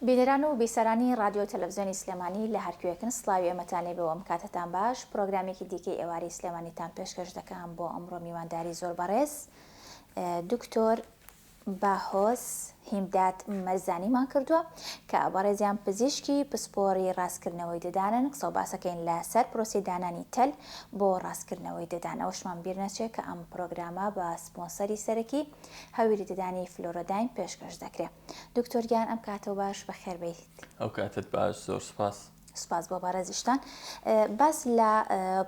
بینەران و بیسەرانی ڕادیۆ و تەلەفزیۆنی سلێمانی لە هەرکوێکن سڵاوی ئێمەتان لێ بێوەم کاتتان باش پرۆگرامێکی دیکەی ئێوارەی سلێمانیتان پێشکەش دەکەم بۆ ئەمڕۆ میوانداری زۆر بەڕێز دکتۆر باهۆز هیمداد مەرزانیمان کردووە کە بەڕێزیان پزیشکی پسپۆری ڕاستکردنەوەی ددانن قسە و باسەکەین لە سەر پرۆسی دانانی تەل بۆ ڕاستکردنەوەی ددان ئەوشمان بیر نەچێت کە ئەم پرۆگرامە بە سپۆنسەری سەرەکی هەویری ددانی فلۆرۆداین پێشکەش دەکرێ دکتۆر گیان ئەم کاتەو باش بەخێر بێیت. ئەو کاتت باش زۆر سوپاس. سوپاس بۆ بەڕێزیشتان. باس لە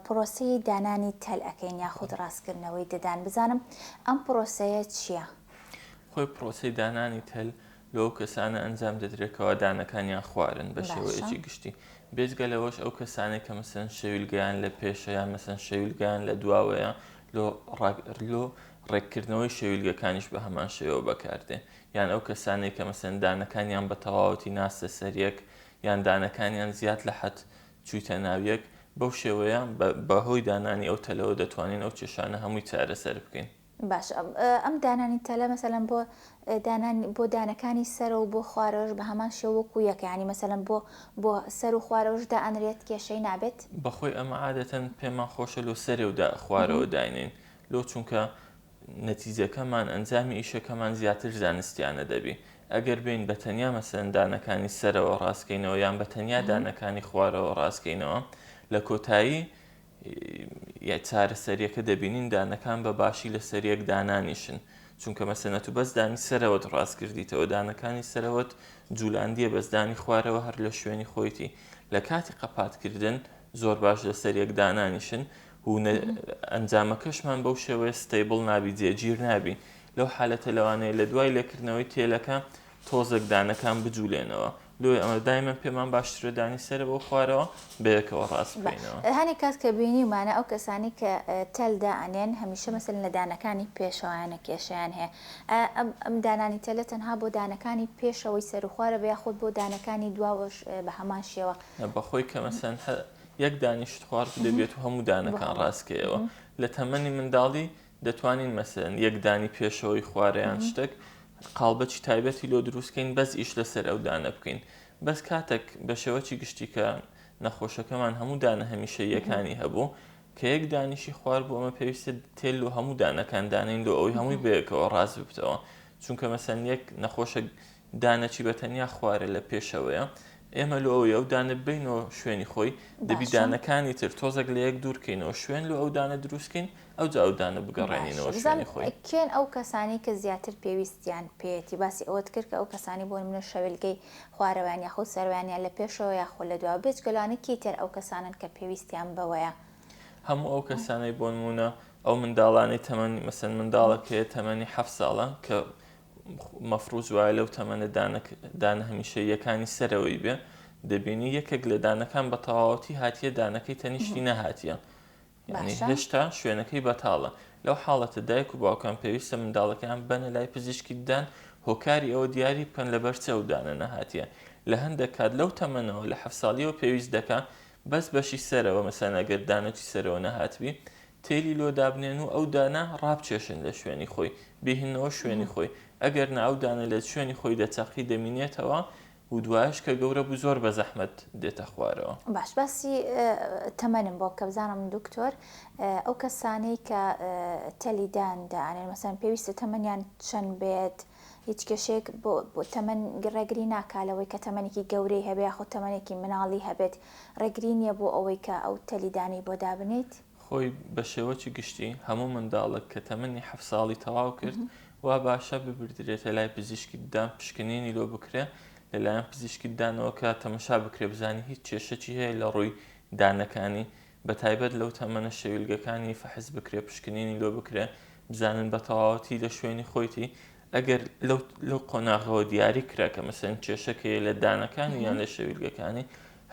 پرۆسەی دانانی تەل ئەکەین یاخود ڕاستکردنەوەی ددان بزانم ئەم پرۆسەیە چیە؟ خۆی پرۆسەی دانانی تەل لەو کەسانە ئەنجام دەدرێت کەوا دانەکانیان خوارن بە شێوەیەکی گشتی بێجگە لەوەش ئەو کەسانێک کە مەسەن شەویلگەیان لە پێشە یان مەسەن شەویلگەیان لە دواوەیە لۆ ڕاگرلۆ ڕێککردنەوەی شەویلگەکانیش بە هەمان شێوە بەکاردێ یان ئەو کەسانێک کە مەسەن دانەکانیان بە تەواوەتی ناستە سەریەک یان دانەکانیان زیاد لە حەد چوویتە ناویەک بەو شێوەیە بەهۆی دانانی ئەو تەلەوە دەتوانین ئەو کێشانە هەمووی چارەسەر بکەین. باشە ئەم دانانی تەلە مەسەلەن بۆ دانان بۆ دانەکانی سەرە و بۆ خوارەوەش بە هەمان شێوە وەکو یەکە یانی مەسەلەن بۆ بۆ سەر و خوارەوەش دائەنرێت کێشەی نابێت؟ بەخۆی ئەمە عادەتەن پێمان خۆشە لۆ سەرێ و دا خوارەوە داینێین لۆ چونکە نەتیجەکەمان ئەنجامی ئیشەکەمان زیاتر زانستیانە دەبی ئەگەر بێین بە تەنیا مەسەلەن دانەکانی سەرەوە ڕاست کەینەوە یان بە تەنیا دانەکانی خوارەوە ڕاست کەینەوە لە کۆتایی ی چارەسەریەکە دەبینین دانەکان بە باشی لەسەر یەک دانانیشن چونکە مەسەنە تو بەس دانی سەرەوەت ڕاست کردیتەوە دانەکانی سەرەوەت جولاندیە بەس دانی خوارەوە هەر لە شوێنی خۆیتی لە کاتی قەپات کردن زۆر باش لەسەر یەک دانانیشن و ئەنجامەکەشمان بەو شێوەیە ستەیبڵ نابی جێگیر نابی لەو حالەتە لەوانەیە لە دوای لێکردنەوەی تێلەکە تۆزێک دانەکان بجولێنەوە دوای ئەمە دایمەن پێمان باشترە دانی سەرەوە و خوارەوە بەیەکەوە ڕاست بکەینەوە. بە هەنێ کات کە بینیومانە ئەو کەسانەی کە تەل دائەنێن هەمیشە مەسەلەن لە دانەکانی پێشەوەیانە کێشەیان هەیە ئایا ئەم ئەم دانانی تەلە تەنها بۆ دانەکانی پێشەوەی سەر و خوارەوە یاخود بۆ دانەکانی دواوەش بە هەمان شێوە؟ نە بەخۆی کە مەسەلەن هەر یەک دانیشت خواربدەبێت و هەموو دانەکان ڕاست کەیەوە. لە تەمەنی منداڵی دەتوانین مەسەلەن یەک دانی پێشەوەی خوارە یان شتەک قاڵبەچی تایبەتی لۆ دروستکەین بەس ئیش لەسەر ئەو دانە بکەین بەس کاتەک بە شێوەچی گشتی کە نەخۆشەکەمان هەموو دانە هەمیشەییەکانی هەبوو کە یەک دانیشی خوار بوو ئەمە پێویستە تێل لۆ هەموو دانەکان دانین لۆ ئەوەی هەمووی بەیەکەوە ڕاست ببتەوە چونکە مەسەلەن یەک نەخۆشە دانەکی بە تەنیا خوارە لە پێشەوەیە ئێمە لۆ ئەوەی ئەو دانە ببەینەوە شوێنی خۆی دەبی دانەکانی تر تۆزەک لە یەک دوورکەینەوە شوێن لۆ ئەو دانە دروستکەین ئەو جا ئەو دانە بگەڕێنینەوە شوێنی خۆی کێن ئەو کەسانی کە زیاتر پێویستیان پێیەتی باسی ئەوەت کرد کە ئەو کەسانی بۆ نمونە شەوێلگەی خوارەوەیان یاخود سەروەیان یان لە پێشەوە یاخۆ لە دوا بێجگە لەوانە کێی تر ئەو کەسانن کە پێویستیان بەوەیە؟ هەموو ئەو کەسانەی بۆ نمونە ئەو منداڵانەی تەمەنی مەسەن منداڵەکەیە تەمەنی حەفت ساڵە کە مەفروز وایە لەو تەمەنە دانە هەمیشەییەکانی سەرەوەی بێ دەبینی یەکێک لە دانەکان بە تەواوەتی هاتیە دانەکەی تەنیشتی نەهاتیە یعنی هێشتا شوێنەکەی بەتاڵە لەو حاڵەتە دایک و باوکان پێویستە منداڵەکەیان بەنە لای پزیشکی ددان هۆکاری ئەوە دیاری بکەن لە بەرچە و دانە نەهاتیە لە هەندێک کات لەو تەمەنەوە لە حەف ساڵیەوە پێویست دەکە بەس بەشی سەرەوە مەسەلەن ئەگەر دانەوتی سەرەوە نەهاتبی تێلی لۆ دابنێن و ئەو دانە ڕابچێشن لە شوێنی خۆی بیهنەوە شوێنی خۆی ئەگەر نا ئەو دانە لە شوێنی خۆی دەچەقی دەمینێتەوە و دوایش کە گەورە بوو زۆر بەزەحمەت دێتە خوارەوە. باش باسی تەمەنم بۆ بکە بزانم دکتۆر ئەو کەسانەی کە تێلی دان دانێن مەسەلەن پێویستە تەمەنیان چەند بێت هیچ کێشەیەک بۆ بۆ تەمەن ڕێگری ناکا لەوەی کە تەمەنێکی گەورەی هەبێ یاخود تەمەنێکی مناڵی هەبێت، ڕێگری نییە بۆ ئەوەی کە ئەو تەلیدانەی بۆ دابنێیت. خۆی بە شێوەکی گشتی هەموو منداڵێک کە تەمەنی حەفت ساڵی تەواو کرد وا باشە ببردرێتە لای پزیشکی ددان پشکنینی لۆ بکرێ لە لایەن پزیشکی ددانەوە کە تەمەشا بکرێ بزانی هیچ کێشەکی هەیە لە ڕووی دانەکانی بە تایبەت لەو تەمەنە شەویلگەکانی فەحس بکرێ پشکنینی لۆ بکرێ بزانن بە تەواوەتی لە شوێنی خۆیتی ئەگەر لەو قۆناغەوە دیاری کرا کە مەسەن کێشەکەی لە دانەکانی یان لە شەویلگەکانی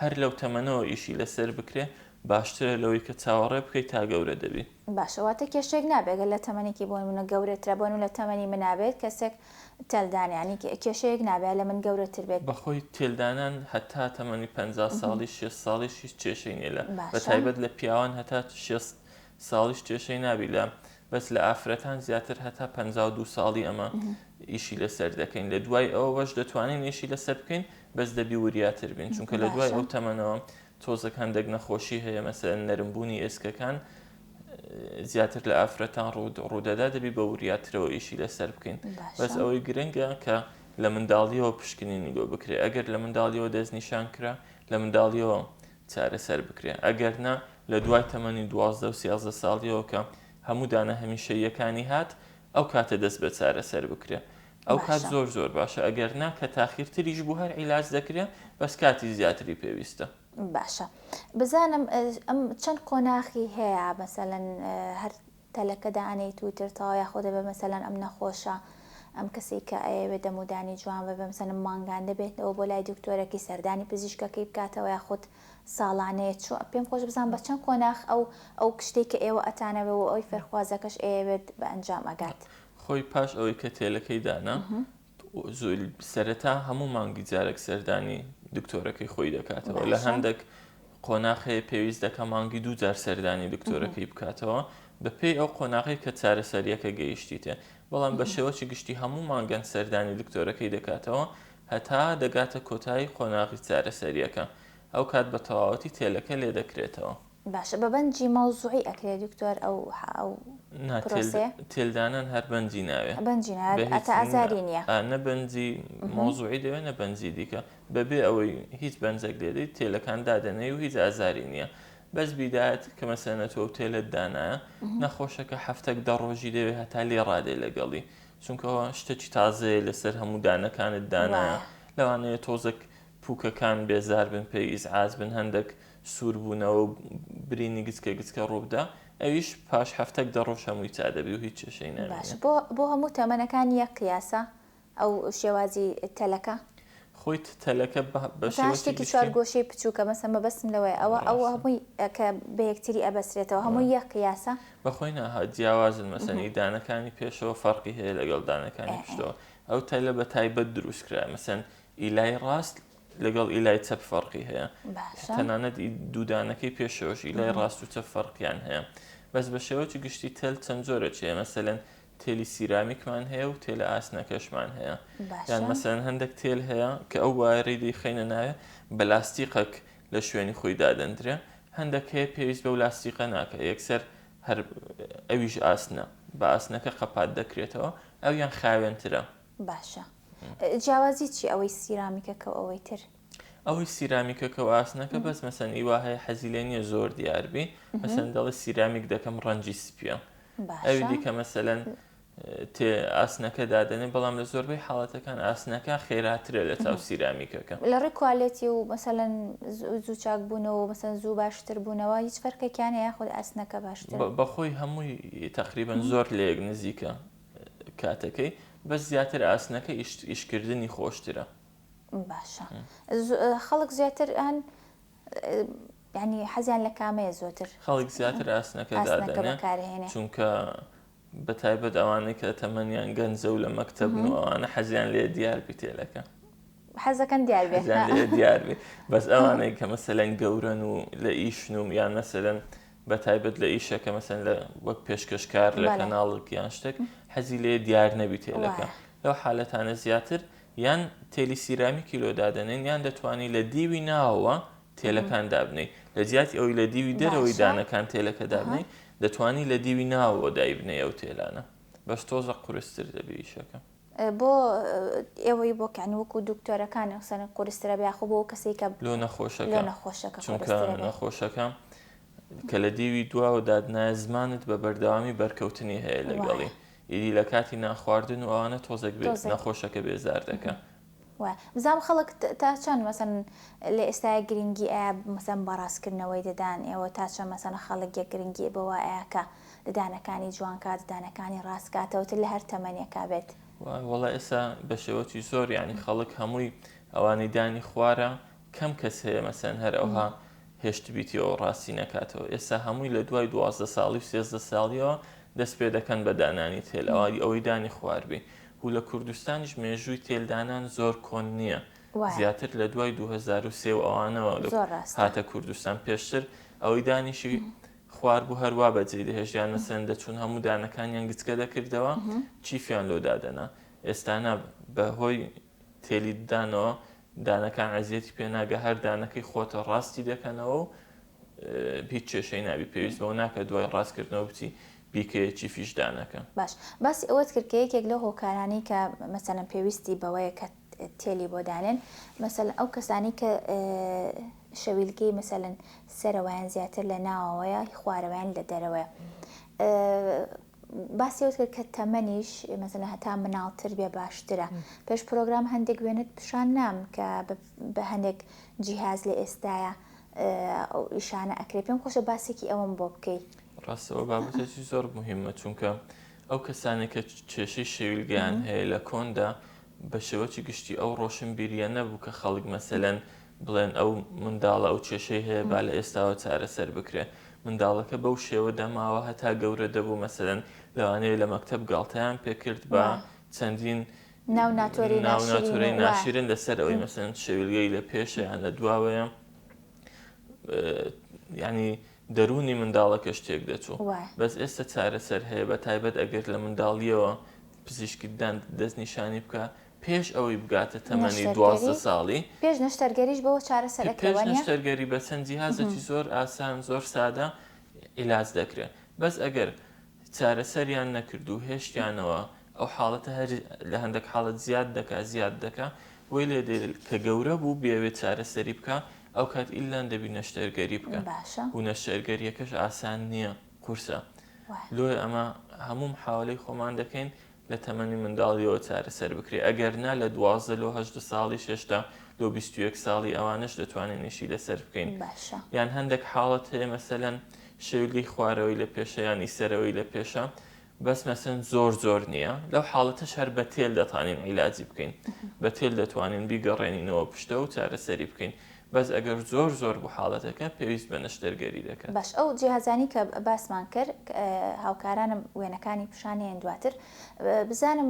هەر لەو تەمەنەوە ئیشی لەسەر بکرێ باشترە لەوەی کە چاوەڕێ بکەی تا گەورە دەبی. باشە واتە کێشەیەک نابێ گەر لە تەمەنێکی بۆ نمونە گەورەترە بۆ نمونە لە تەمەنی منا بێت کەسێک تێل دانیانی کێشەیەک نابێ لە من گەورەتر بێت. بەخۆی تێل دانان هەتا تەمەنی پەنجا ساڵی شێست ساڵیش هیچ کێشەی نیە لە بەتایبەت لە پیاوان هەتا شێست ساڵیش کێشەی نابی لە بەس لە ئافرەتان زیاتر هەتا پەنجا و دوو ساڵی ئەمە ئیشی لەسەر دەکەین لە دوای ئەوە بەش دەتوانین ئیشی لەسەر بکەین بەس دەبی وریاتر بین چونکە لە دوای ئەو تەمەنەوە تۆزەکان دەگنە خۆشی هەیە مەسەن نەرمبوونی ئێسکەکان زیاتر لە ئافرەتان ڕوود ڕوودەدا دەبی بە وریاترەوە ئیشی لەسەر بکەین بەس ئەوەی گرنگە کە لە منداڵیەوە پشکنینی بۆ بکرێ ئەگەر لە منداڵیەوە دەستنیشان کرا لە منداڵیەوە چارەسەر بکرێ ئەگەر نا لە دوای تەمەنی دوازدە و سیازدە ساڵیەوە کە هەموو دانە هەمیشە یەکانی هات ئەو کاتە دەست بە چارەسەر بکرێ ئەو کات زۆر زۆر باشە ئەگەر نا کە تاخیرتریش بوو هەر عیلاج دەکرێ بەس کاتی زیاتری پێویستە باشە بزانم ئەم چەند قۆناخی هەیە مەسەەن هەر تەلەکە دانێیت و ترتاوە یاخۆ دەبێ مەسەەن ئەم نەخۆشە ئەم کەسی کە ئەیەوێت دەمودانی جوان بە بەمسەنم مانگان دەبێتەوە بۆ لای دکتۆرەکی سەردانی پزیشکەکەی بکاتەوە یا خودت ساڵانەیە چوە پێم خۆش بزان بە چەند قۆناخ ئەو ئەو کشتێک کە ئێوە ئەتانەوە و ئەوی فەرخوازەکەش ئەیەوێت بە ئەنجام ئەگات خۆی پاش ئەوەی کە تێلەکەی دانا سەرەتا هەموو مانگی جارێک سەردانی دکتۆرەکەی خۆی دەکاتەوە لە هەندێک قۆناخەیە پێویست دەکە مانگی دوو جار سەردانی دکتۆرەکەی بکاتەوە بەپێی ئەو قۆناغی کە چارەسەریەکە گەیشتیتێ بەڵام بە شێوەی گشتی هەموو مانگەن سەردانی دکتۆرەکەی دەکاتەوە هەتا دەگاتە کۆتایی قۆناغی چارەسەریەکە ئەو کات بە تەواوەتی تێلەکە لێ دەکرێتەوە. باشە بە بەنجی مەوزوعی ئەکرێ دکتۆر ئەو ئەو نا پرۆسەیە؟ تێلدانان هەر بەنجی ناوێ بەنجی ناوێت بە هیچ ئەتا ئازاری نییە ئا نە بەنجی مەوزوعی دەوێ نە بەنجی دیکە بەبێ ئەوەی هیچ بەنجەک لێدەی تێلەکان دادەنێی و هیچ ئازاری نییە بەس بیدات کە مەسەن ئەتۆ و تێلت دانایە نەخۆشەکە هەفتەک دە ڕۆژی دەوێ هەتا لێ ڕادێ لەگەڵی چونکە ئەوە شتەکی تازەیە لەسەر هەموو دانەکانت دانایە وایە لەوانەیە تۆزەک پووکەکان بێزار بن پێی ئیزعاج بن هەندەک سووربوونەوە و برینی گچکە گچکە ڕووبدا، ئەویش پاش حەفتەک دە ڕۆژ هەمووی چا دەبی و هیچ کێشەی نامینێ. باشە بۆ بۆ هەموو تەمەنەکان یەک قیاسە ئەو شێوازی تەلەکە؟ خۆی تەلەکە بە بە شێوەکی گشتی. شتێکی چوار گۆشەی بچووکە مەسەن مەبەستم لەوەیە ئەوە ئەوە هەمووی کە بە یەکتری ئەبەسرێتەوە هەمووی یەک قیاسە؟ بە خۆی نا ها جیاوازن مەسەن ئی دانەکانی پێشەوە فەرقی هەیە لەگەڵ دانەکانی پشتەوە ئەو تەلە بە تایبەت درووست کرایە مەسەن ئی لای ڕاست لەگەڵ ئیلای چەپ فەرقی هەیە تەنانەت دوودانەکەی پێشەوەش ئیلای ڕاست و چەپ فەرقیان هەیە بەس بە شێوەی گشتی تەل چەند جۆرە چێ مەسەن تێلی سیرامیکمان هەیە و تێلە ئاسنەکەشمان هەیە یان مەسەن هەندێک تێل هەیە کە ئەو وایەی دیخینە ناوێ بە لاستیقەک لە شوێنی خۆی دادەندرێ هەندێک هەیە پێویست بەو لاستیقە ناکە یەکسەر هەر ئەویش ئاسنە بە ئاسنەکە قەپات دەکرێتەوە ئەویان خاوێنترە باشە جیاوازی چی ئەوەی سیرامیکەکە و ئەوەی تر؟ ئەوەی سیرامیکەکە و ئاسنەکە بەس مەسەن ئی وا هەیە حەزی لێ نییە زۆر دیاربی مەسەن دەڵی سیرامیک دەکەم ڕەنجی سپیە ئەوی دیکە مەسەەن تێ ئاسنەکە دادەنێ بەڵام لە زۆربەی حاڵەتەکان ئاسنەکە خێراترە لە تاو سیرامیکەکە لە ڕێ کوالێتی و مەسەەن زوو چاک بوونەوە مەسەن زوو باشتر بوونەوە هیچ فەرکەکیانە یاخود ئاسنەکە باشتر بەخۆی هەمووی تقریبن زۆر لەیەک نزیکە کاتەکەی بەس زیاتر ئاسنەکە ئیش کردنی خۆشترە. باشە خەڵک زیاتر ئەن ینی حەزیان لە کامەیە زۆتر خەڵک زیاتر ئاسنەکە دادەنێ چونکە بە تایبەت ئەوانەی کە تەمەنیان گەنجە و لە مەکتەب و ئەوانە حەزیان لێ دیار بیتێلەکە حەزەکەن دیار دیار بەس ئەوانەی کە مەسەلەن گەورەن و لە ئیشنوم یان مەسەرەن بە تایبەت لە ئیشە کە مەسەن لە وەک پێشکەشکار لە کەناڵک یان شتێک حەزی لێ دیار نەبی تێلەکە لەو حالەتانە زیاتر یان تێلی سیرامی کیلۆ دادەنێن یان دەتوانانی لە دیوی ناوەوە تێلەکان دابنی لە جیاتی ئەوی لە دیوی دەرەوەی دانەکان تێلەکە دابنی دەتوانی لە دیوی ناوەوە دایبنێ ئەو تێلانە بەس تۆزە قورستر دەبێ ئیشەکە بۆ ئێوەی بۆ کانی وەکو دکتۆرەکانی قسەن قورسترە یاخۆ بۆ کەسی کە لۆ نەخۆشەکە نەخۆشەکە چونکە نەخۆشەکە کە لە دێوی دواوە دادنایە زمانت بە بەردەوامی بەرکەوتنی هەیە لەگەڵی ئیدی لە کاتی ناخواردن و ئەوانە تۆزێک بێت نەخۆشەکە بێزار دەکە وایە بزانم خەڵک تا چەند مەسەن لە ئێستایا گرنگی ئەیا مەسەن بەڕاست کردنەوەی ددان ئێوە تا چەند مەسەن خەڵک یە گرنگی بەوە ئەیا کە ددانەکانی جوان کا ددانەکانی ڕاست کاتەوە تر لە هەر تەمەنێکا بێت؟ وایە وەڵا ئێستا بە شێوەکی زۆر یانی خەڵک هەمووی ئەوانەی دانی خوارە کەم کەس هەیە مەسەن هەر ئەوها هێشتبیتیەوەو ڕاستی نەکاتەوە ئێستا هەمووی لە دوای دوازدە ساڵی و سێزدە ساڵیەوە دەست پێ دەکەن بە دانانی تێل ئەوە ئەوەی دانی خوار بی و لە کوردستانیش مێژووی تێل دانان زۆر کۆن نیە وایە. زیاتر لە دوای دوو هەزار و سێ و ئەوانەوە زۆر ڕاستە. هاتە کوردستان پێشتر ئەوەی دانیشی خوار بوو هەر وا بە جێی دەهێشتیان مەسەلەن دەچوون هەموو دانەکانیان گچکە دەکردەوە چیفیان لۆ دادەنا ئێستا نا بە هۆی تێلی دانەوە دانەکان عەزیەتی پێ ناگا هەر دانەکەی خۆتە ڕاستی دەکەنەوە و هیچ کێشەی نابی پێویست بەوە ناکە دوای ڕاستکردنەوە بچی بیکەیە چیفیش دانەکە. باش باسی ئەوەت کرد کە یەکێک لەو هۆکارانەی کە مەسەلەن پێویستی بەوەیە کە تێلی بۆ دانێن مەسەلەن ئەو کەسانی کە شەویلکەی مەسەلەن سەرەوەیان زیاتر لە ناوەوەیە خوارەوەیان لە دەرەوەیە باسی ئەوەت کرد کە تەمەنیش مەسەلەن هەتا مناڵتر بێ باشترە پێش پرۆگرام هەندێک وێنەت پیشان نام کە بە هەندێک جیهاز لە ئێستایە ئەو ئیشانە ئەکرێت پێم خۆشە باسێکی ئەوەم بۆ بکەیت ڕاستەوە بابەتێکی زۆر مهمە چونکە ئەو کەسانێک کە کێشەی شێویلگەیان هەیە لە کۆندا بە شێوەی گشتی ئەو ڕۆشنبیریە نەبوو کە خەڵک مەسەلەن بڵێن ئەو منداڵە ئەو کێشەی هەیە با لە ئێستاوە چارەسەر بکرێ منداڵەکە بەو شێوە دەماوە هەتا گەورە دەبوو مەسەلەن لەوانەیە لە مەکتەب گاڵتەیان پێکرد بە چەندین ناو ناتۆری ناو ناشرین ناتۆرەی و وا. ناشرین لەسەر ئەوەی مەسەلەن شەویلگەی لە پێشە یان لە دواوەیە یانی دەروونی منداڵەکەش تێک دەچوو وایە. بەس ئێستە چارەسەر هەیە بە تایبەت ئەگەر لە منداڵیەوە پزیشکی ددان دەستنیشانی بکا پێش ئەوەی بگاتە تەمەنی دوازدە ساڵی پێش نەشتەرگەریش بەوە چارەسەرەکە پێش نەشتەرگەری بە چەند جیهازێکی زۆر ئاسان زۆر سادە عیلاج دەکرێت بەس ئەگەر چارەسەریان نەکرد و هێشتیانەوە ئەو حاڵەتە هەر لە هەندێک حاڵەت زیاد دەکا زیاد دەکا بۆی لێ دێت کە گەورە بوو بێوێ چارەسەری بکە ئەو کات ئیلان دەبی نەشتەرگەری بکە باشە و نەشتەرگەریەکەش ئاسان نییە قورسە وایە. لۆیە ئەمە هەموو محاولەی خۆمان دەکەین لە تەمەنی منداڵیەوە چارەسەر بکرێت ئەگەر نا لە دوازدە لۆ هەژدە ساڵیش هێشتا لۆ بیست و یەک ساڵی ئەوانەش دەتوانین ئیشی لەسەر بکەین باشە یان هەندێک حاڵەت هەیە مەسەلەن شەویلگەی خوارەوەی لە پێشە یانی سەرەوەی لە پێشە بەس مەسەن زۆر زۆر نییە لەو حاڵەتەش هەر بە تێل دەتوانین عیلاجی بکەین بە تێل دەتوانین بیگەڕێنینەوە پشتە و چارەسەری بکەین بەس ئەگەر زۆر زۆر بوو حاڵەتەکە پێویست بە نەشتەرگەری دەکات. باش ئەو جیهازانەی کە باسمان کرد هاوکارانم وێنەکانی پشانێن دواتر بزانم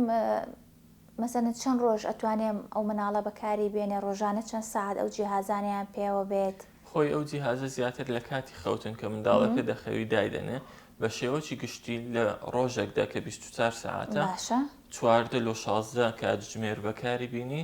مەسەلەن چەند ڕۆژ ئەتوانێم ئەو مناڵە بەکاری بێنێ ڕۆژانە چەند سەعات ئەو جیهازانەیان پێوە بێت. خۆی ئەو جیهازە زیاتر لە کاتی خەوتن کە منداڵەکە دەخەوی دایدەنێ بە شێوەکی گشتی لە ڕۆژێکدا کە بیست و چوار سەعاتە چواردە لۆ شازدە کاتژمێر بەکاری بینی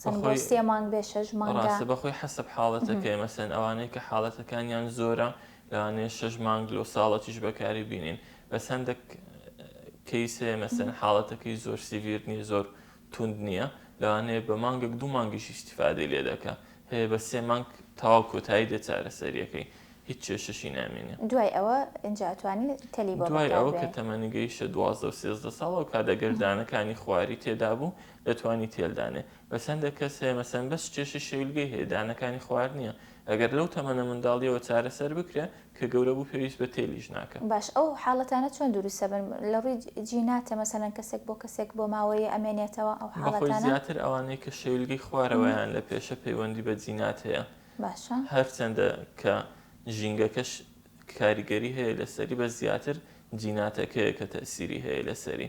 چەند بۆ سێ مانگ بێ شەش مانگە؟ ڕاستە بەخۆی حەسب حاڵەتەکەی مەسەن ئەوانەی کە حاڵەتەکانیان زۆرە لەوانەیە شەش مانگ لۆ ساڵەکیش بەکاری بینین بەس هەندێک کەیس هەیە مەسەن حاڵەتەکەی زۆر سیڤیر نییە زۆر توند نییە لەوانەیە بە مانگێک دوو مانگیش ئیستیفادەی لێ دەکا هەیە بە سێ مانگ تەواو کۆتایی دێ چارەسەرییەکەی هیچ کێشەشی نامێنێ دوای ئەوە ئینجا ئەتوانی تەلی بۆ دوای بەکار ئەوە کە بێنی. تەمەنی گەیشتە دوازدە و سێزدە ساڵ ئەو کات ئەگەر دانەکانی خواری تێدا بوو دەتوانی تێل دانێ بەس هەندێک کەس هەیە مەسەن بەس کێشی شەویلگەی هەیە دانەکانی خوار نییە ئەگەر لەو تەمەنە منداڵیەوە چارەسەر بکرێ کە گەورە بوو پێویست بە تێلیش ناکا. باش ئەو حاڵەتانە چۆن دروست ئەبن لە ڕووی جیناتە مەسەلەن کەسێک بۆ کەسێک بۆ ماوەیێ ئەمێنێتەوە ئەو حاڵەتانە؟ بەخۆی زیاتر ئەوانەی کە شەویلگەی خوارەوەیان لە پێشە پەیوەندی بە جینات هەیە باشە. هەرچەندە کە ژینگەکەش کاریگەری هەیە لەسەری بەس زیاتر جیناتەکەیە کە تەئسیری هەیە لەسەری.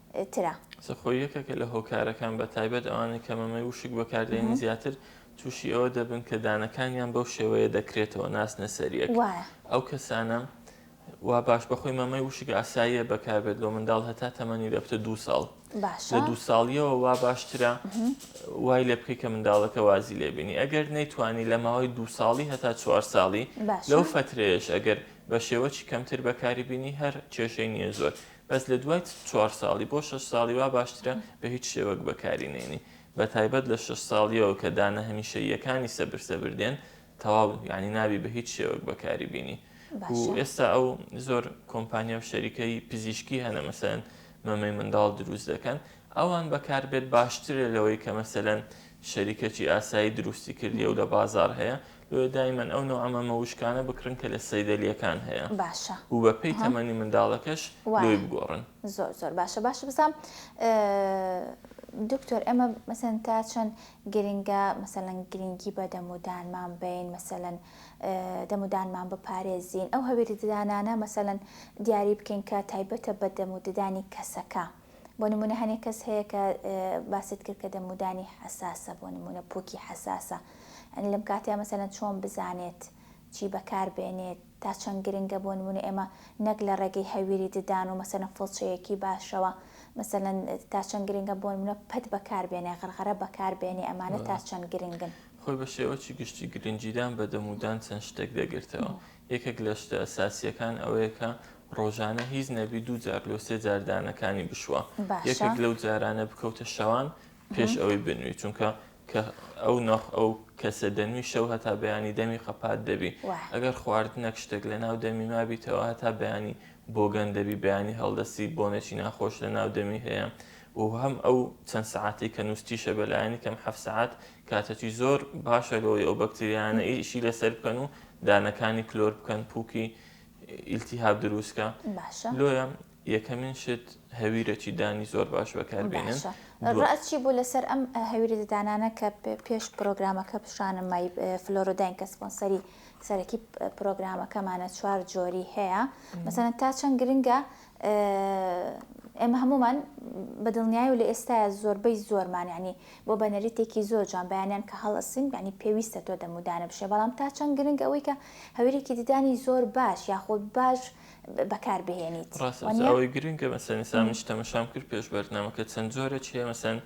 ترە. سەرخۆ یەکێکە لە هۆکارەکان بە تایبەت ئەوانەی کە مەمەی وشک بەکاردێنی زیاتر تووشی ئەوە دەبن کە دانەکانیان بەو شێوەیە دەکرێتەوە ناسنە سەریەک ئەو کەسانە وا باش بەخۆی مەمەی وشک ئاساییە بەکاربێت لۆ منداڵ هەتا تەمەنی دەبتە دو ساڵ لە دو ساڵیەوە وا باشترە وای لێ بکەی کە منداڵەکە وازی لێبینی ئەگەر نەیتوانی لە ماوەی دو ساڵی هەتا چوار ساڵی لەو فترەیەش ئەگەر بە شێوەی کەمتر بەکاری بینی هەر کێشەی نییە زۆر بەس لە دوای چوار ساڵی بۆ شەش ساڵی وا باشترە بە هیچ شێوەک بەکاری نێنی بە تایبەت لە شەش ساڵیەوە کە دانە هەمیشەییەکانی سەبر سەبر دێن تەواو یعنی نابی بە هیچ شێوەک بەکاری بینی و باشە ئێستا ئەو زۆر کۆمپانیا و شەریکەی پزیشکی هەنە مەسەن مەمەی منداڵ دروست دەکەن ئەوان بەکار بێت باشترە لەوەی کە مەسەلەن شەریکەکی ئاسایی دروستی کردیە و لە بازاڕ هەیە لۆیە دایمەن ئەو نەوعە مەمە وشکانە بکڕن کە لە سەیدەلیەکان هەیە باشە و بە پێی ها تەمەنی منداڵەکەش لۆی وایە بگۆڕن. زۆر زۆر باشە باشە بزام دکتۆر ئێمە مەسەلەن تا چەند گرنگە مەسەلەن گرنگی بە دەم و دانمان بەین مەسەلەن دەم و دانمان بپارێزین ئەو هەویری ددانانە مەسەلەن دیاری بکەین کە تایبەتە بە دەم و ددانی کەسەکە. بۆ نمونە هەنێ کەس هەیە کە باست کرد کە دەمودانی حساسە بۆ نمونە پوکی حساسە ئەنی لەم کاتیا مەسەەن چۆن بزانێت چی بەکار بێنێت تا چەند گرنگە بۆ نمونە ئێمە نەک لە ڕێگەی هەویری ددان و مەسەە فڵچەیەکی باشەوە مەسەەن تا چەند گرنگە بۆ نمونە پەت بەکار بێنێ غەرغەرە بەکار بێنێ ئەمانە تا چەند گرنگن خۆی بە شێوەکی گشتی گرنگیدان بە دەمودان چەند شتێک دەگرتەوە یەکێک لە شتە ئەساسییەکان ئەوەیە کە ڕۆژانە هیچ نەبی دوو جار لۆ سێ جار دانەکانی بشوە یەکێک لەو جارانە بکەوتە شەوان پێش ئەوەی بنوی چونکە کە ئەو ناخ ئەو کەسە دەنوی شەو هەتا بەیانی دەمی قەپات دەبی ئەگەر خوارد نەک شتێک لە ناو دەمی مابیتەوە هەتا بەیانی بۆگەن دەبی بەیانی هەڵدەسی بۆنێکی ناخۆش لە ناو دەمی هەیە و هەم ئەو چەند سعاتی کە نووسیشە بەلایەنی کەم حەفسەعات کاتەکی زۆر باشە لەوەی ئەو بەکتریانە ئیشی لەسەر بکەن و دانەکانی کلۆر بکەن پووکی ئیلتیهاب دروستکە لۆیە یەکەمین شت هەویرەکی دانی زۆر باش بەکاربێنن ڕاچی بوو لەسەر ئەم هەویری ددانانە کە پێش پرۆگرامەکە پیشانم مای فلۆرۆداین کە سپۆنسەری سەرەکی پرۆگرامەکەمانە چوار جۆری هەیە مەسەن تا چەند گرنگە ئێمە هەموومان بە دڵنیای و لە ئێستایە زۆربەی زۆرمان یعنی بۆ بە نەریتێکی زۆر جوان بەیانیان کە هەڵەسین یعنی پێویستە تۆ دەم و دانە بشێ بەڵام تا چەند گرنگ ئەوەی کە هەویرێکی ددانی زۆر باش یاخود باش بەکار بهێنیت ڕاستە بەس وانیە؟ ئەوەی گرنگە مەسەن ئێستا منیش تەمەشام کرد پێش بەرنامەکە چەند جۆرێک هەیە مەسەن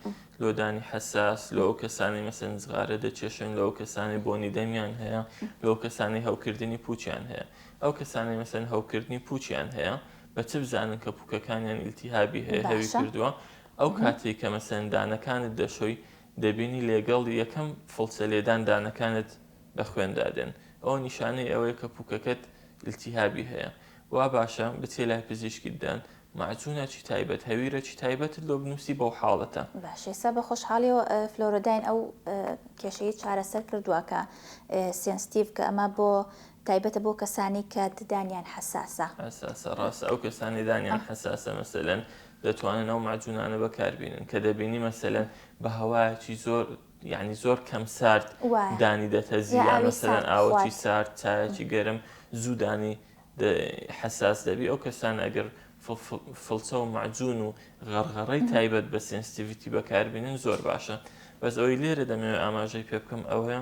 لۆدانی حەساس لۆ ئەو کەسانی مەسەن نزغارە دەکێشن لۆ ئەو کەسانی بۆنی دەمیان هەیە لۆ کەسانی هەوکردنی پووچیان هەیە ئەو کەسانەی مەسەلەن هەوکردنی پووچیان هەیە بە چ بزانن کە پووکەکانیان ئیلتیهابی هەیە هەوی باشە کردووە ئەو مهم. کاتەی کە مەسەلەن دانەکانت دەشۆی دەبینی لێگەڵ یەکەم فڵچە لێدان دانەکانت بە خوێندا دێن ئەوە نیشانەی ئەوەیە کە پووکەکەت ئیلتیهابی هەیە وا باشە بچیە لای پزیشکیت دان مەعجونەکی تایبەت هەویرەکی تایبەتت لۆ بنووسی بەو حاڵەتە. باش ئێستا بە خۆشحاڵیەوە فلۆرۆداین ئەو کێشەی چارەسەر کردوە کە سێنستیڤ کە ئەمە بۆ تایبەتە بۆ کەسانی کە ددانیان حەساسە. حەساسە، ڕاستە ئەو کەسانەی دانیان حەساسە مەسەلەن دەتوانن ئەو مەعجونانە بەکار بینن کە دەبینی مەسەلەن بە هەوایەکی زۆر یانی زۆر کەم سارد دانی دەتەزی یان مەسەلەن ئاوەکی سارد چایەکی گەرم زوو دانی حەساس دەبی ئەو کەسانە ئەگەر فڵچە و مەعجون و غەڕغەڕەی تایبەت بە سێنسیتیڤیتی بەکار بینن زۆر باشە بەس ئەوەی لێرە دەمەوێ ئاماژەی پێ بکەم ئەوەیە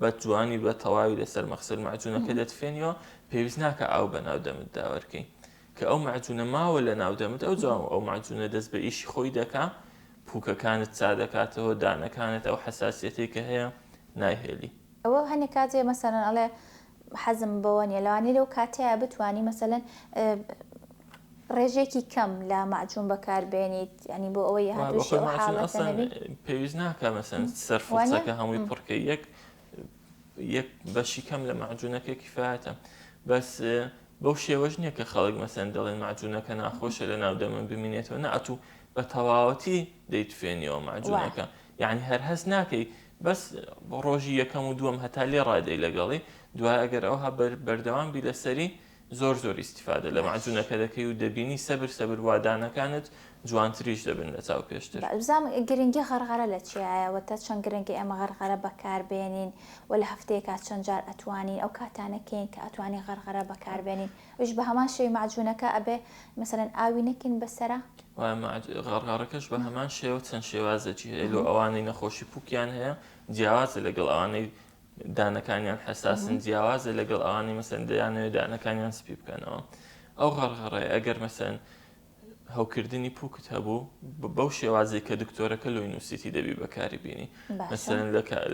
بە جوانی و بە تەواوی لەسەر مەخسەل مەعجوونەکە دەتفێنیەوە، پێویست ناکا ئاو بە ناو دەمت دا وەرکەی. کە ئەو مەعجوونە ماوە لە ناو دەمت ئەوجا ئەو مەعجوونە دەست بە ئیشی خۆی دەکا، پووکەکانت چا دەکاتەوە، دانەکانت ئەو حەساسیەتەی کە هەیە نایهێلی. ئەوە هەنێ کاتێ مەسەلەن ئەڵێ حەزم بەوە نیە، لەوانیە لەو کاتەیا بتوانی مەسەلەن ڕێژەیەکی کەم لە مەعجون بەکار بێنیت یانی بۆ ئەوەی هاتووشی ئەو حاڵەتە نەبی. پێویست ناکا مەسەن سەر فرسەکە هەمووی پڕکە یەک یەک بەشی کەم لە مەعجونەکە کیفاەتە بەس بەو شێوەش نییە کە خەڵک مەسەن دەڵێن مەعجونەکە ناخۆشە لە ناو دەمە بمینێتەوە ناتوو بە تەواوەتی دەیتفێنیەوە مەعجونەکە یعنی هەر هەست ناکەی بەس بۆ ڕۆژی یەکەم و دووەم هەتا لێ ڕادەی لەگەڵی دوای ئەگەر ئەوها بەردەوام بی لەسەری زۆر زۆر ئیستیفادە لە مەعجونەکە دەکەی و دەبینی سەبر سەبر وا دانەکانت جوانتریش دەبن لە چاو پێشتر. بزانم گرنگی غەرغەرە لە چیایە وەتا چەند گرنگە ئێمە غەرغەرە بەکار بێنین وە لە هەفتەیەکا چەند جار ئەتوانین ئەو کاتانە کێین کە ئەتوانین غەرغەرە بەکار بێنین ئەویش بە هەمان شێوەی مەعجونەکە ئەبێ مەسەلەن ئاوی نەکەین بەسەرا؟ وە مەعج غەرغەرەکەش بە هەمان شێوە چەند شێوازێکی هەیە لۆ ئەوانەی نەخۆشی پوکیان هەیە جیاوازە لەگەڵ ئەوانەی دانەکانیان حەساسن جیاوازە لەگەڵ ئەوانەی مەسەن دەیانەوێت دانەکانیان سپی بکەنەوە ئەو غەڕغەڕێ ئەگەر مەسەن هەوکردنی پوکت هەبوو بەو شێوازی کە دکتۆرەکە لۆی نووسیتی دەبی بەکاری بینی مەسەن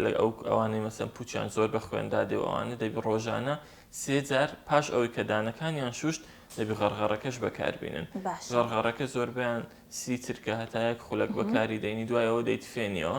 لە ئەو ئەوانەی مەسەن پوچیان زۆر بە خوێندا دێوانە دەبی ڕۆژانە سێجار پاش ئەوەی کە دانەکانیان شوشت دەبی غەرغەڕەکەش بەکاربینن غەرغەڕەکە زۆربیان سی چرکە هەتایەک خولک بەکاری دەینی دوایەوە دەیتفێنیەوە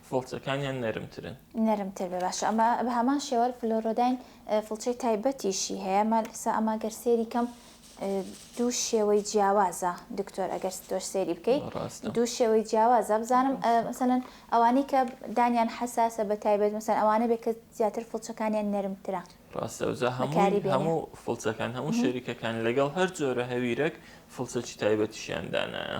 فڵچەکانیان نەرمترن. نەرمتر بێ باشە ئەمە بەهەمان شێوە فلۆرۆداین فڵچەی تایبەتیشی هەیە مە سا ئەمە گەر سێری کەم دوو شێوەی جیاوازە دکتۆر ئەگەر ستۆش سێری بکەی دوو شێوەی جیاوازە بزانم مەسەن ئەوانەی کە دانیان حساسە بە تایبەت مەسەن ئەوانە بێ کە زیاتر فڵچەکانیان نەرمترە ڕاستەوزە هەمووی هەموو فڵچەکان هەموو شەریکەکان لەگەڵ هەر جۆرە هەویرەک فڵچەکی تایبەتیشیان دانایە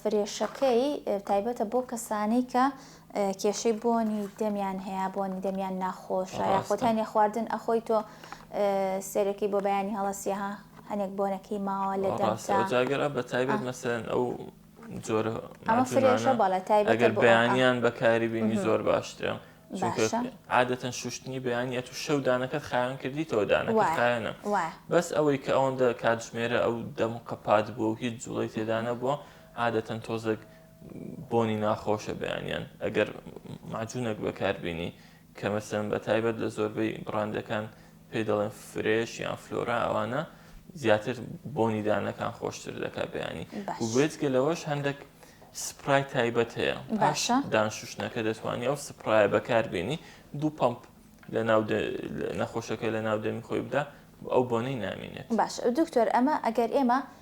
فرێشەکەی تایبەتە بۆ کەسانەی کە کێشەی بۆنی دەمیان هەیە بۆنی دەمیان ناخۆشە یاخۆت هەنێ خواردن ئەخۆی تۆ سێرەکەی بۆ بەیانی هەڵەسیها هەنێک بۆنەکەی ماوە لە دەمتاگەرا بە تایبەت مەسەن ئەو جۆرە ئەمە فرێشە بەڵە تایبەت بەیانیان بەکاری بینی زۆر باشترە باشە عادەتەن شوشتنی بەیانی ئەتو شەو دانەکەت خاوێن کردیتەوە دانەکە خاوێنە بەس ئەوەی کە ئەوەندە کاتژمێرە ئەو دەم قەپات بۆ و هیچ جوڵی تێدانە بووە عادەتەن تۆزەک بۆنی ناخۆشە بەیانیان ئەگەر معجونەک بەکاربیینی کەمەسەن بە تایبەت لە زۆربەی بڕاندەکان پێی دەڵێن فرێش یان فلۆرا ئەوانە زیاتر بۆنی دانەکان خۆشتر دەکات بەیانی وێتگە لەوەش هەندێک سپرای تایبەت هەیە باشە دانشوشنەکە دەتوانانی ئەو سپرایە بەکاربیێنی دوو پمپ لە ناو نەخۆشەکە لە ناو دەمی خۆی بدا ئەو بۆنەی نامینێت باش دکتۆر ئەمە ئەگەر ئێمە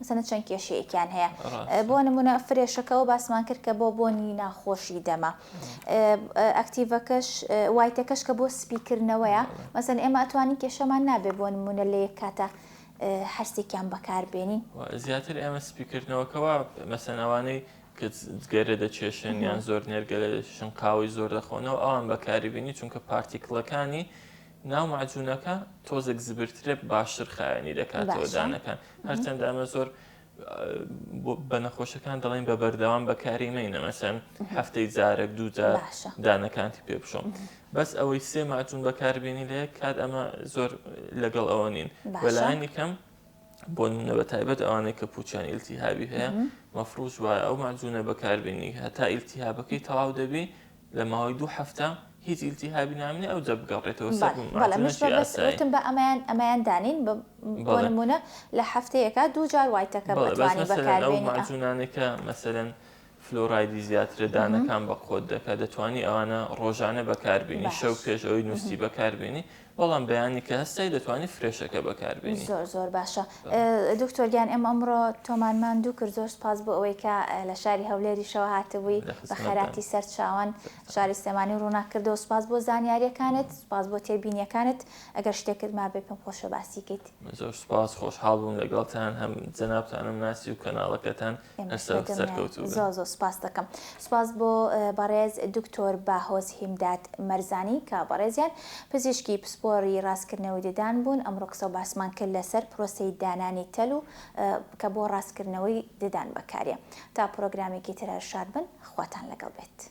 مەسەلەن چەند کێشەیەکیان هەیە بۆ نمونە فرێشەکە ئەوە باسمان کرد کە بۆ بۆنی ناخۆشی دەمە ئەکتیڤەکەش وایتەکەش کە بۆ سپیکردنەوەیە مەسەن ئێمە ئەتوانی کێشەمان نابێ بۆ نمونە لە یەک کاتە هەرسێکیان بەکاربێنین زیاتر ئێمە سپیکردنەوەکەەوە مەسەنەوانەی کە گەرە دەچێشن یان زۆر نێرگەلە دەشن قاوەی زۆر دەخۆنەوە ئەوان بەکاری بینی چونکە پارتیکلەکانی ناو مەعجونەکە تۆزێک زبرترە باشتر خاوێنی دەکاتەوە دانەکان هەرچەندە ئەمە زۆر بە نەخۆشەکان دەڵێن بە بەردەوام بەکاری مەینە مەسەن هەفتەی جارێک دوو جار دانەکانتی پێ بشۆم بەس ئەوەی سێ ماجون بەکاربیێنی لە کات ئەمە زۆر لەگەڵ ئەوە نین بەلایانی کەم بۆ نمونە بە تایبەت ئەوانەی کە پوچیان ئیلتیهابی هەیە مەفروش وایە ئەو ماجونە بەکاربیێنی هەتا ئیلتیهابەکەی تەواو دەبی لە ماوەی دوو هەفتە هیچ ئیلتیهابی نامینە ئەوجا بگەڕێتەوە سەر بەڵێ بەڵێ مەعادی مەش مەشی بە بەس ئاسایی وتم بە ئەمەیان ئەمەیان دانێین بە بۆ بەڵێ نموونە لە هەفتەیەکا دوو جار وایتەکەم بەڵێ بەس ئەتوانی مەسەلەن ئەو بەکاربێنی ئا مەعجوونانەی کە مەسەلەن فلۆرایدی زیاترە دانەکان بە قۆت دەکا دەتوانی ئەوانە ڕۆژانە بەکاربێنی شەو بەش پێش ئەوەی نووستی بەکاربێنی بەڵام بەیانی کە هەستای دەتوانی فرێشەکە بەکاربێنی. زۆر زۆر باشە دکتۆر گیان ئێمە ئەمڕۆ تۆمان ماندوو کرد زۆر سپاس بۆ ئەوەی کە لە شاری هەولێریشەوە هاتبووی بە خەراتی سەر چاوان شاری سلێمانی ڕووناک کردەوە سپاس بۆ زانیاریەکانت سپاس بۆ تێبینیەکانت ئەگەر شتێکت مابێ پێم خۆشە باسی کەیت. زۆر سپاس خۆشحاڵ بووم لەگەڵتان هەم جەنابتانم ناسی و کەناڵەکەتان زۆ زۆ سپاس دەکەم سپاس بۆ بەڕێز دکتۆر باهۆز هیمداد مەرزانی کە بەڕێزیان پزیشکی پسپۆری ڕاستکردنەوەی ددان بوون ئەمڕۆ قسە و باسمان کرد لەسەر پرۆسەی دانانی تەل و کە بۆ ڕاستکردنەوەی ددان بەکارێ تا پرۆگرامێکی ترە شاد بن خواتان لەگەڵ بێت.